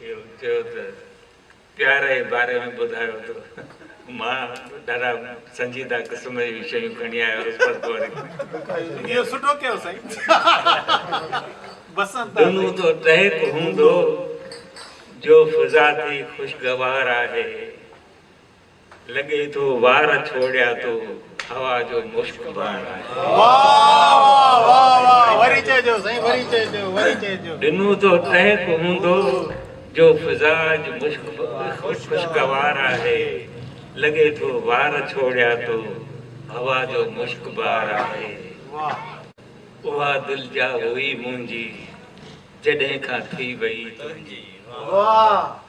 اهو چيو ته پيار جي باري ۾ ٻڌايو ته مان ڏاڍا سنجيده قسم جون شيون کڻي آيو هوس پر پوء وري اهو سٺو ڪيو سائين بسنت دنو تو ٽهڪ هوندو جو فضا ٿي خوشگوار آهي. لڳي ٿو وار ڇوڙيا تو هوا جو مشڪ باڻ آهي. واھ واھ واھ واھ وري چئجو سائين وري چئجو وري چئجو. ڏنو تو ٽهڪ هوندو جو فضا اڄ مشڪ خوشگوار آهي لڳي ٿو وار ڇوڙيا تو هوا جو مشڪ بار آهي. اها دل جا هئي منهنجي جڏهن کان ٿي وئي تنهنجي.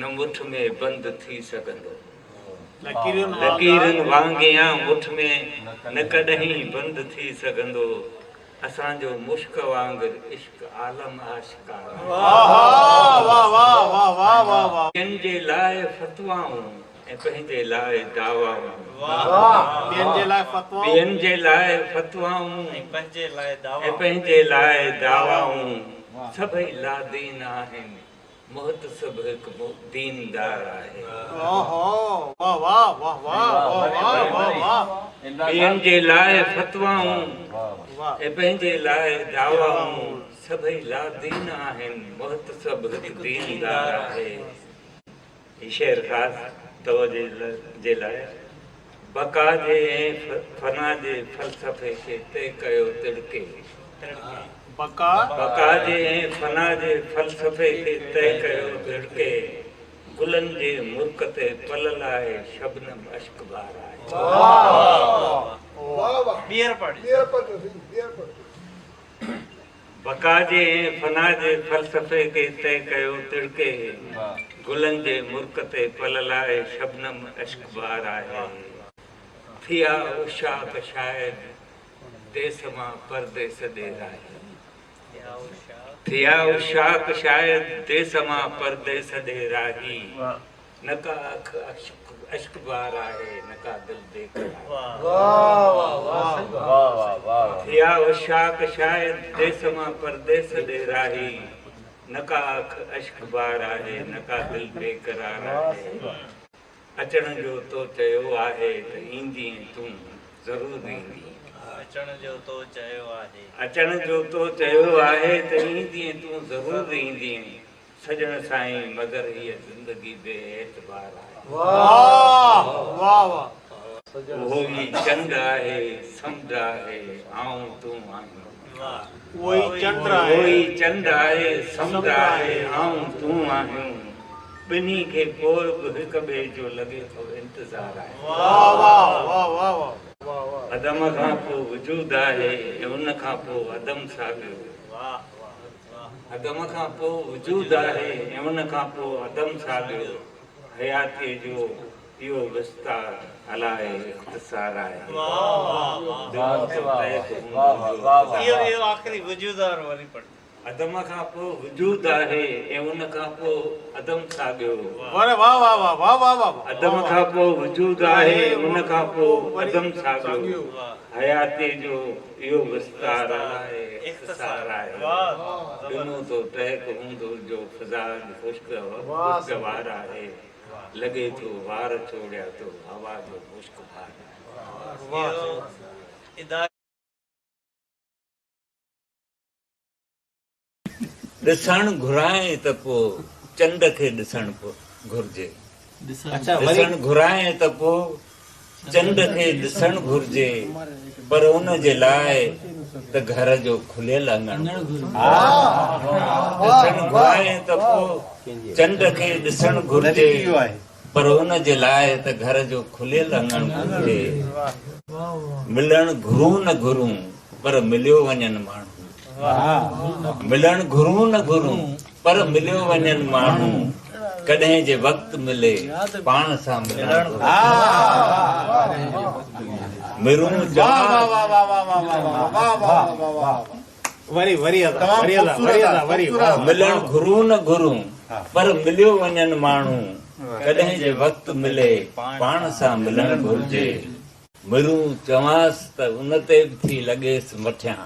نه مٺ ۾ بند ٿي سگهندو. لڪيرن وانگيان مٺ ۾ نه ڪڏهين بند ٿي سگهندو. اسان جو مشڪ وانگر عشق عالم آشڪارا. ٻين جي لاء فتوائون ۽ پنهنجي لاء دعوائون. ٻين جي لاء فتوائون ۽ پنهنجي لاء دعوائون. سڀئي لادين آهن محتسب هڪ ديندار آهي. ٻين جي لاء فتوائون ۽ پنهنجي لاء دعوائون سڀئي لادين آهن. محتسب هڪ ديندار آهي. هي شعر خاص توجه جي لاء بقا جي ۽ فنا جي فلسفي کي طئي ڪيو تڙڪي. بقا جي ۽ فنا جي فلسفي کي طئي ڪيو تڙڪي. گلن جي مرڪ تي پلل آهي شبنم اشڪ بار آهي. بقا جي ۽ فنا جي فلسفي کي طئي ڪيو تڙڪي گلن جي مرڪ تي پلل آهي شبنم اشڪ بار آهي ٿيا عشاق شايد ديس مان پرديس ڏير آهي ٿيا عشاق شايد ديس مان پرديس ڏير آهي. نه ڪا اک اشڪ بار آهي نه ڪا دل بي قرار آهي اها وشاڪ شايد ديس مان پرديس ڏي راهي نه ڪا اک اشڪ بار آهي نه ڪا دل بي قرار آهي اچڻ جو تو چيو آهي ته ايندين تون ضرور ايندين اچڻ جو تو چيو آهي اچڻ جو تو چيو آهي ته ايندين تون ضرور ايندين سڄڻ سائين مگر هيء زندگي بي اعتبار آهي. اهو ئي چنڊ آهي سمنڊ آهي آئون تون آهيون. ٻنهي کي پوء به هڪ ٻئي جو لڳي ٿو انتظار آهي. عدم کان پوء وجود آهي ۽ ان کان پوء عدم ساڳيو. عدم کان پوء وجود آهي ۽ ان کان پوء عدم ساڳيو حياتيء جو اهو وستار الائي اختصار آهي جو متحد هوندو آهي. عدم کان پوء وجود آهي ۽ ان کان پوء عدم ساڳيو عدم کان پوء وجود آهي ۽ ان کان پوء عدم ساڳيو حياتيء جو اهو وستار آهي اختصار آهي ڏنو تو ٽهڪ هوندو جو فضا اڄ خوشگوار آهي لڳي ٿو وار چوڙيا تو هوا جو مشڪ بار آهي. ڏسڻ گهرائين ته پوء چنڊ کي ڏسڻ گهرجي. ڏسڻ گهرائين ته پوء چنڊ کي ڏسڻ گهرجي پر ان جي لاء ته گهر جو کليل اڱڻ گهرجي. ڏسڻ گهرائين ته پوء چنڊ کي ڏسڻ گهرجي. پر ان جي لاء ته گهر جو کليل اڱڻ کپي. ملڻ گهرون نه گهرون پر مليو وڃن ماڻهو. ملڻ گهرون نه گهرون پر مليو وڃن ماڻهو. ڪڏهن جي وقت ملي پاڻ سان ملڻ گهرون. ملڻ گهرون نه گهرون پر مليو وڃن ماڻهو ڪڏهن جي وقت ملي پاڻ سان ملڻ گهرجي مرون چوانس ته ان تي به ٿي لڳيس مٺيان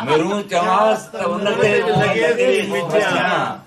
مرون چوانس ته ان تي به ٿي لڳيس مٺيان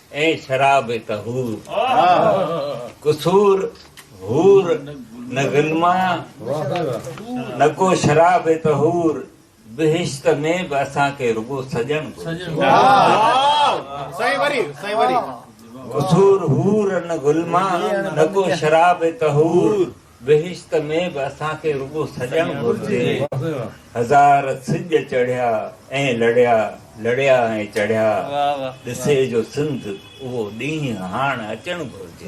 ۽ شراب طهور قصور حور نه غلما نه ڪو شراب طهور بهشت ۾ به اسان کي رڳو سڄڻ گهرجي قصور حور نه غلما نه ڪو شراب طهور بهشت ۾ به اسان کي رڳو سڄڻ گهرجي. هزار سج چڙهيا ۽ لڙيا، لڙيا ۽ چڙهيا، ڏسي جو سنڌ اهو ڏينهن هاڻ اچڻ گهرجي.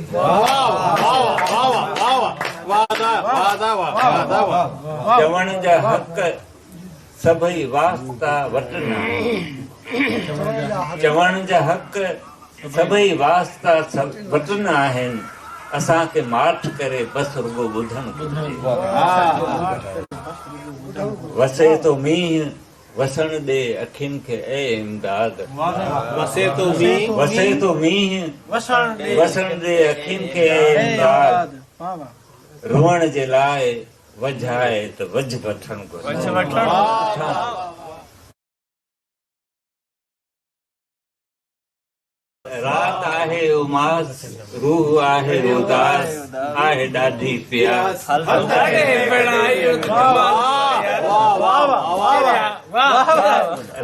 چوڻ جا حق. سڀئي واسطا وٽن آهن. چوڻ جا حق سڀئي واسطا وٽن آهن. اسان کي ماٺ ڪري بس رڳو ٻڌڻ گهرجي. وسي ٿو مينهن وسڻ ڏي اکين کي اي امداد. وسي ٿو مينهن وسڻ ڏي اکين کي اي امداد. روئڻ جي لاء وجهه آهي ته وجهه وٺڻ گهرجي. رات آهي اماس، روح آهي اداس، آهي ڏاڍي پياس.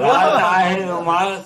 رات آهي اماس،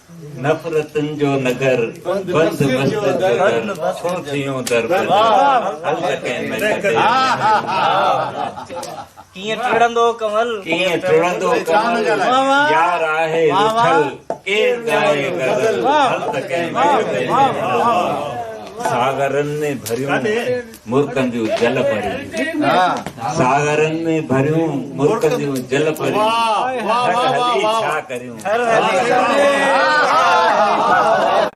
نفرتن جو نگر بند وسجد جو در ڇو ٿيون دربند هل ته ڪنهن ۾ ڇڏي ڪيئن ٽڙندو ڪنول ڪيئن ٽڙندو ڪنول يار آهي رٿل ڪير ڳائي غزل هل ته ڪنهن ۾ ڇڏي ساغرن ۾ ڀريون مرڪن جون جل پرين ساغرن ۾ ڀريون مرڪن جون جل پرين هلي ڇا ڪريون